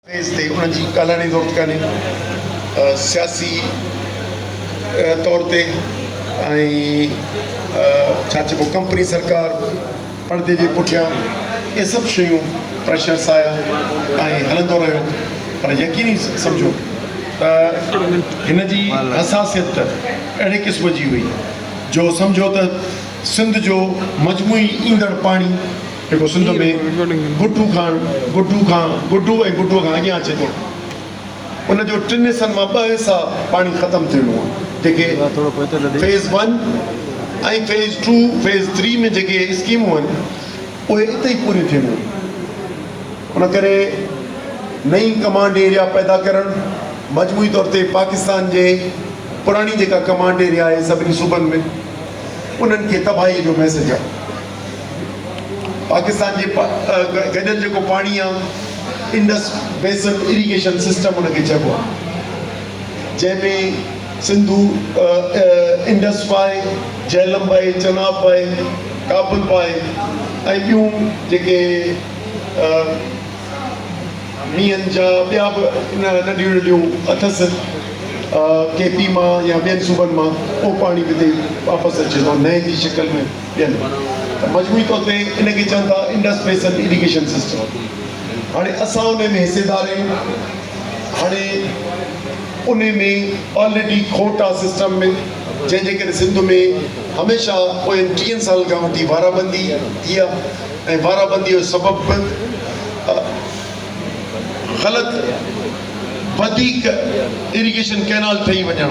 Page تي انهن جي ڳالهائڻ جي ضرورت ڪانهي سياسي طور تي ۽ ڇا چئبو ڪمپني سرڪار پڙدي جي پٺيان اهي سڀ شيون پريشرس آيا ۽ هلندو رهيو پر يقيني سمجهو ته هن جي حساسيت ته اهڙي قسم جي هئي جو سمجهو ته سنڌ جو مجموعي ايندڙ پاڻي جيڪو سنڌ ۾ گڊو کان گڊو کان گڊو ۽ گڊو کان اڳيان اچي ٿو. ان جو ٽن حصن مان ٻه حصا پاڻي ختم ٿي ويو آهي جيڪي phase one ۽ phase two phase three ۾ جيڪي اسڪيمون آهن اهي اتي ئي پوريون ٿينديون ان ڪري نئين ڪمانڊ ايريا پيدا ڪرڻ مجموعي طور تي پاڪستان جي پراڻي جيڪا ڪمانڊ ايريا آهي سڀني صوبن ۾ انهن کي تباهي جو ميسيج آهي. پاڪستان جي گڏيل جيڪو پاڻي آ انڊس بيسن ايريگيشن سسٽم ان کي چئبو آ جنهن ۾ سنڌو انڊس باء جهلم باء چناب باء ڪابل باء ۽ ٻيون جيڪي مينهن جا ٻيا به ننڍيون ننڍيون اٿس ڪي پي مان يا ٻين صوبن مان اهو پاڻي به هتي واپس اچي ٿو نئين جي شڪل ۾ ڏين ته مجموعي طور تي ان کي چون ٿا انڊس بيسن اريگيشن سسٽم هاڻي اسان ان ۾ حصيدار آهيون هاڻي ان ۾ آلريڊي کوٽ آهي سسٽم ۾ جنهن جي ڪري سنڌ ۾ هميشه پوين ٽيهن سالن کان وٺي وارابندي ٿي آهي ۽ وارابندي جو سبب به غلط وڌيڪ اريگيشن ڪئنال ٺهي وڃڻ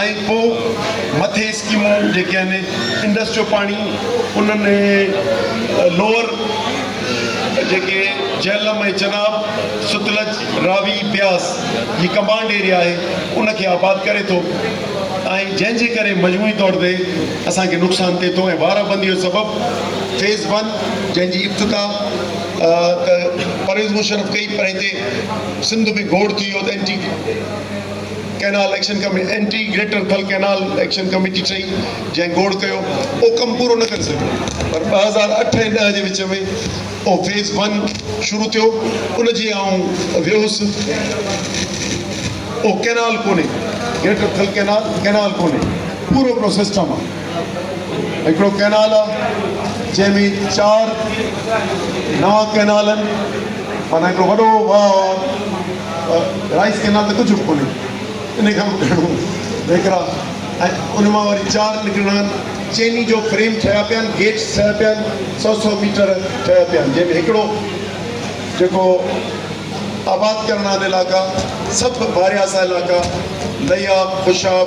۽ پوء مٿي اسڪيمون جيڪي آهن انڊس جو پاڻي انهن لوئر جيڪي جهلم ۽ چناب، ستلج، راوي، بياس جي ڪمبائنڊ ايريا آهي ان کي آباد ڪري ٿو ۽ جنهن جي ڪري مجموعي طور تي اسان کي نقصان ٿئي ٿو ۽ وارا بندي جو سبب فيز ون جنهن جي افتتاح ته پرويز مشرف ڪئي پر هتي سنڌ ۾ گوڙ ٿي ويو ته anti canal action committee, anti greater Thal canal action committee ٺهي، جنهن گوڙ ڪيو. اهو ڪم پورو نه ڪري سگهيو، پر ٻه هزار اٺ ۽ ڏهه جي وچ ۾ اهو فيز ون شروع ٿيو، ان جي آئون ويهوس. اهو ڪئنال ڪونهي، گريٽر ٿل ڪئنال، ڪئنال ڪونهي. پورو پرو سسٽم آ. هڪڙو ڪئنال آ جنهن ۾ چار نوان ڪئنال آهن معنيٰ هڪڙو وڏو واهه آ رائيس ڪئنال ته ڪجهه به ڪونهي ان کان به گهڻو ويڪرا ۽ ان مان وري چار نڪرڻا آهن چيني جو فريم ٺهيا پيا آهن گيٽس ٺهيا پيا آهن سو سو ميٽر ٺهيا پيا آهن جنهن ۾ هڪڙو جيڪو آباد ڪرڻا علائقا سڀ بارياسا علائقا ليا خوشاب